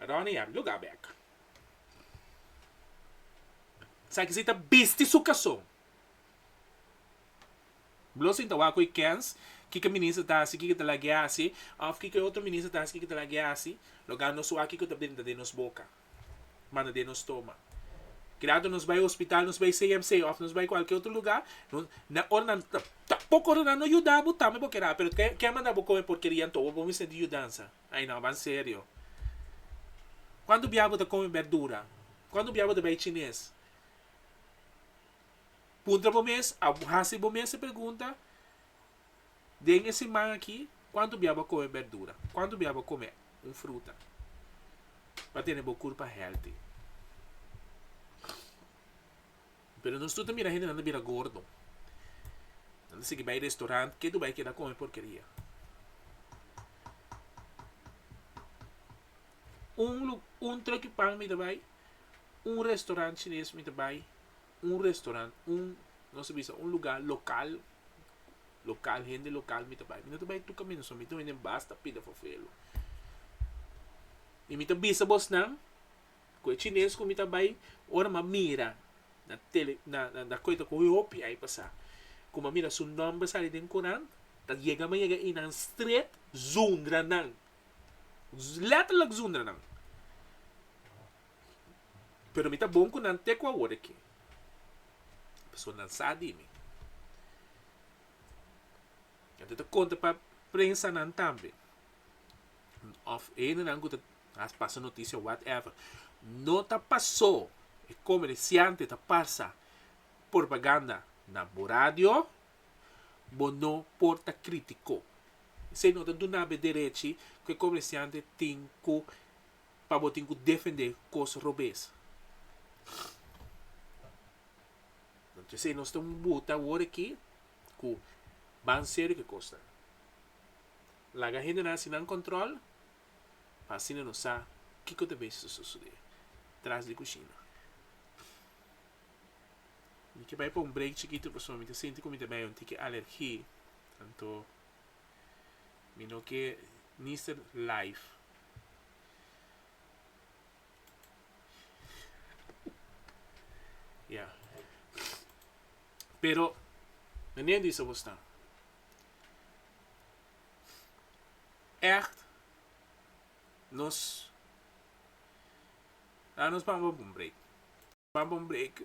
Ròni, a look a bèk. Esaki si ta bisti su kason. Blosing ta wak cu e kens kiko minister ta haci kiko ta lag'e haci of kiko e otro minister ta haci kiko ta lag'e haci lo ga nos wak kiko ta brinta den nos boca manda den nos toma kilato nos bay hospital nos bay CMC of nos bay cualkier otro lugar na ora nan ta poko ora nan no yuda bo tambe bo kera pero ke ke a manda bo con e porkerian tobo bo mester di yudansa ay no aban serio cuanto bia bo ta come berdura cuanto bia bo ta bay chines. Puntra bo mes, a hasi bo mes e pregunta, den e siman aki kuantu bia bo a kome berdura? Kuantu bia bo a kome un fruta pa tene bo kurpa hèlti? Pero nos tur ta mira hendenan ta bira gordo. Nan ta sigui bai restorant, ketu bai keda kome porkeria. Un lu un trokipan mi ta bai, un restorant shines mi ta bai. un restaurant un nos ta bisa un lugar local local hende local mi ta bai mi no ta bai tur camino so mi ta wende basta pida for felo y mi ta bisa bos nan cu e chines cu mi ta bai ora mi a mira na tele na na cu eta coge hopi ai pasa cu mi a mira su nomber a sali den curant ta yega mi a yega y nan straight zundra nan letterlijk zundra nan Pero mi ta bon ku nan te ku awor aki, pasobra nan sa di mi. Nan ta konta pa prensanan tambe òf e hendenan ku ta haña pasa notisia o whatever. No ta pasó e komersiante ta pasa propaganda na bo radio, bo no por ta kritikó. Esei no ta duna'be derechi ku e komersiante tin ku pa bo tin ku defendé kos robes. Anto esei nos ta un buta awor aki ku ban serio ku e kosnan. Laga hendenan hasi nan kòntròl pa asina nos sa kiko ta bai susudé tras di kushina. Mi ke bai pa un break chikitu pasobra mi ta sinti ku mi ta bai un tiki alergi, anto. Mi no ke ni ser live. Ya. Pero, na nen di sabor staan. Echt, nos, laat nos pampa un break. Pampa un break.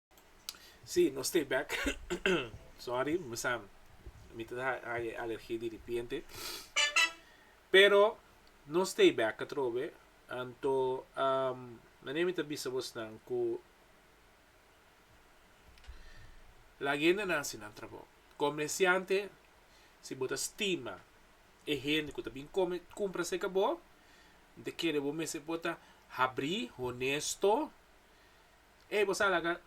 Sí, nos stay back. Sorry, mi sa mi ta haya alergia di ripiente. Pero no stay back atrobe. Anto um, nane mi ta bisa bosnan ku la gendenan si nan trabou. Komersiante, si bo ta stima e hende ku ta bin kome kumpra serka bo, mi ta kere bo mester por ta habri, honesto, Ey, bo sa laga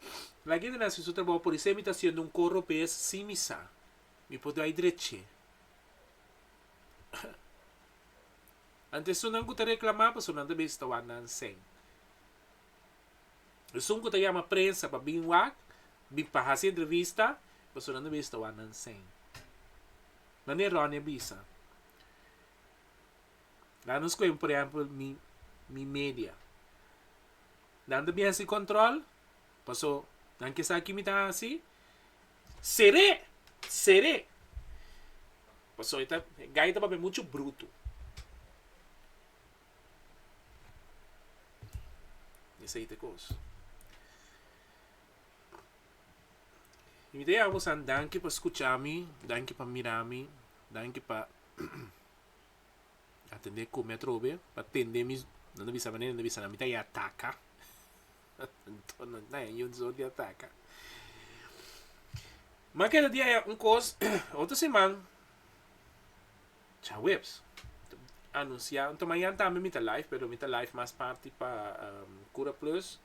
la gende na haci su trabaho por isey mi ta haciendo un coro bez sin mi sa. Mi por dai dreche. Ante esunnan cu ta reclama pasobra nan ta bisa ta wak na ansen. Esun cu ta yama prensa pa bin wak, bin pa haci entrevista pasobra nan ta bisa ta wak na ansen. Mane Ronnie a bisa. La nos coge por ejemplo mi, mi media. Dan ta bien si control, paso nan ke sa ki mi ta haci, cer'é, cer'é. Paso e ta, e gai ta papia mucho bruto. Esei ta e cos. Y mi ta ya bosan danki pa scucha mi, danki pa mira mi, danki pa. a tende come atrobe pa tende mi nan ta bisa manera nan ta bisa nan mi ta yataka anto nan ta ningún soort yataka ma keda dia ya un kos otro siman chaweps anuncia anto mañan tambe mi ta live pero mi ta live mas parti pa curaplus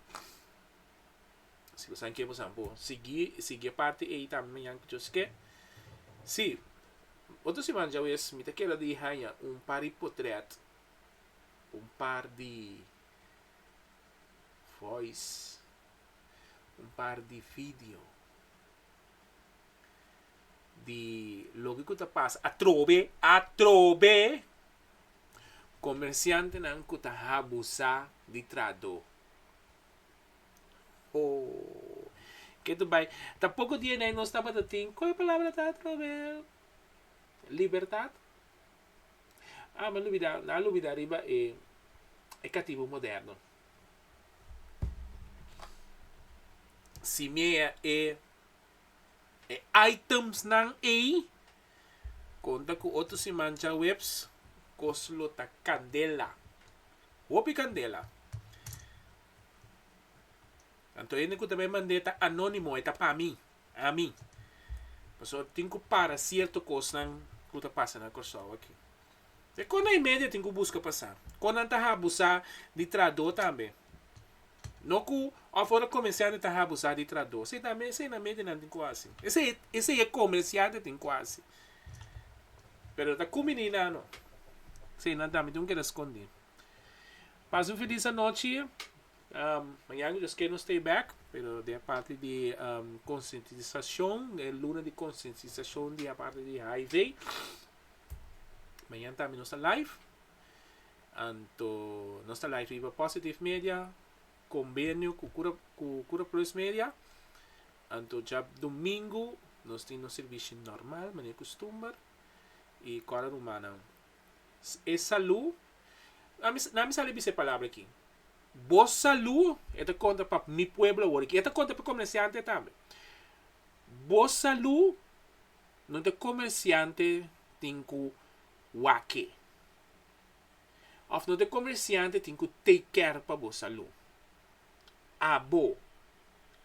Si bo sabe ke bo sabe bo sigui sigui e parti ei tambe mañan ku djos ke. Si, otro siman djawes mi ta keda di haña un par di potrèt, un par di voice, un par di video di loke ku ta pasa atrobe, atrobe komersiantenan ku ta habusa di trahadó. Oh, ke ta bai. Ta poko dia nei nos tabata tin, koe palabra ta Robel? Libertad? Ah, mi a lubidá, mi a lubidá riba e, e katibu moderno. Si mea e, e itemsnan ei, konta ku otro siman djaweps, kos lo ta kandela. Hopi kandela. Anto hende ku ta bai mand'é ta anónimo, e ta pa mi, ami. Pasobra bo tin ku para sierto kosnan ku ta pasa na Kòrsou aki. E kosnan i medio tin ku buska pasá. Kon nan ta habusá di traidó tambe. No ku òf ora komersiante ta habusá di traidó. Sí, tambe esei nan medio nan tin ku hasi. Esei, esei e komersiante tin ku hasi. Pero ta kuminí nan anó. Esei nan tambe tin ku keda skondí. Pasa un feliz anochi. Mañana cu Dios quier nos ta back pero den e parti di concientisacion e luna di concientisacion di aparti di hiv mañana tambe nos ta live anto nos ta live riba positive media conbenio cu cura plus media anto djab domingo nos tin nos servicio normal manera custumber y cora rumannan. e salú, na mi na mi sa bisa e palabra aki, bo salú, e ta konta pa mi pueblo awor aki, e ta konta pa e komersiante tambe, bo salú no ta e komersiante tin ku wak-e, òf no ta e komersiante tin ku take care pa bo salú, abo,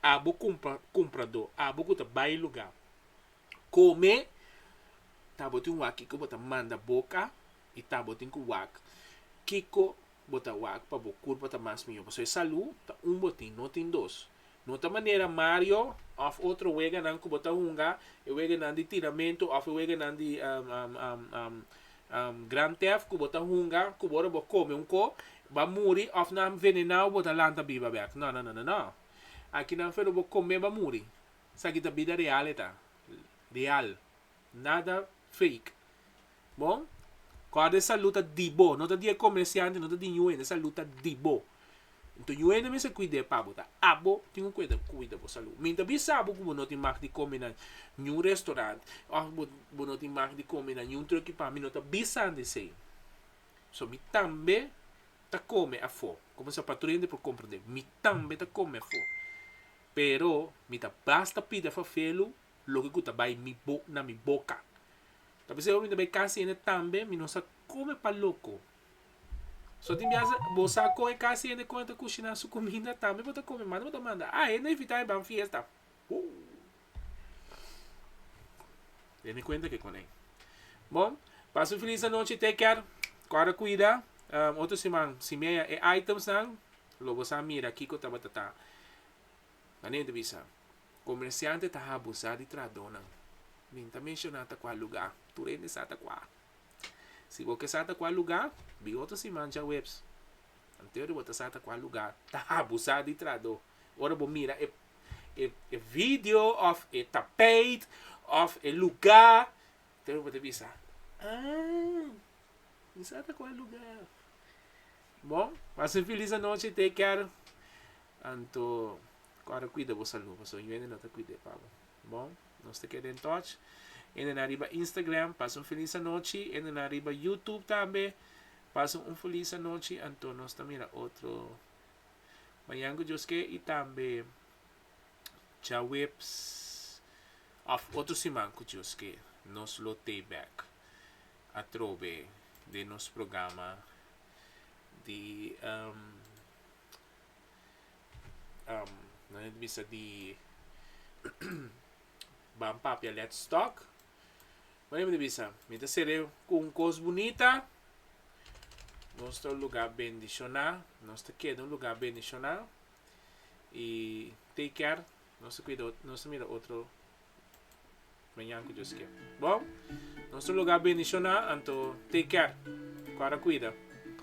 abo kumpra, kumpradó, abo ku ta bai lugá. Kome tabotin wak kiko bo ta manda boka i tabotin ku wak kiko bo ta wak pa bo kurpa ta mas mihó. Pasobra e salú ta un bo tin, no tin dos. No ta manera Mario òf otro weganan ku bo ta hunga, e weganan di tiramentu òf e weganan di Grand Theft ku bo ta hunga ku bo ora bo kome un ko ba muri òf nan venená bo ta lanta biba bèk. No, no, no, no, no. Aki nan fero bo kome ba muri. Esaki ta bida real e ta. Real. Nada fake. Bon? Kòrda e salù ta di bo, no ta di e komersiante, no ta di ñu hende, e salù ta di bo. Nton ñu hende mester kuid'é pa bo, ta abo tin ku e ta kuida bo salù. Mi ta bisa bo ku bo no tin mag di kome na ñu restorant òf bo bo no tin mag di kome na ñu tròk i pan, mi no ta bisandi esei. So mi tambe ta kome afó. Komo sa patrò hende por komprendé? Mi tambe ta kome afó. pero mi ta basta pida fafelu loke ku ta bai mi bo na mi boka. Ta p'esei ora mi ta bai kas hende tambe mi no sa kon mi pa loko. So tin biaha bo sa kon e kas hende kon e ta kushiná su kuminda tambe bo ta kome manda bo ta manda a hende invitá e ban fiesta. Den mi kuenta ke konei. Bo pasa un filis anochi take care. Kòrda kuida otro siman si mia e items nan. Lo bo sa mira kiko tabata ta manente bisa. Komersiante ta habusá di trahadónan. Min ta menshoná ta kua lugá. Tur hende sa ta kua. Si bo ke sa ta kua lugá, bira otro siman djaweps. Antes di bo ta sa ta kua lugá, ta habusá di trahadó. Ora bo mira e e video òf e tapeit òf e lugá, antes di bo ta bisa, Ah, mi sa ta kua lugá. Bon, pas un filis anochi, take care. Anto ku a ta kuida bo salú, pasobra yu hende no ta kuid'é pa bo. Bon, nos ta keda en touch. Hendenan riba Instagram, pas un filis anochi. Hendenan riba YouTube tambe, pas un filis anochi. Anto nos ta mira otro mañan ku Dios ke i tambe djaweps òf otro siman ku Dios ke nos lo tei bèk atrobe den nos programa. di um um nan e ta bisa di ban papia let stock Wan e mester bisa mi ta sere ku un kos bunita nos ta un luga bendishoná nos ta keda un luga bendishoná i take care nos ta kuida nos ta mira otro Mañan ku Dios kere. Bon, nos ta lugar bendicioná, anto take care. Guarda cuida.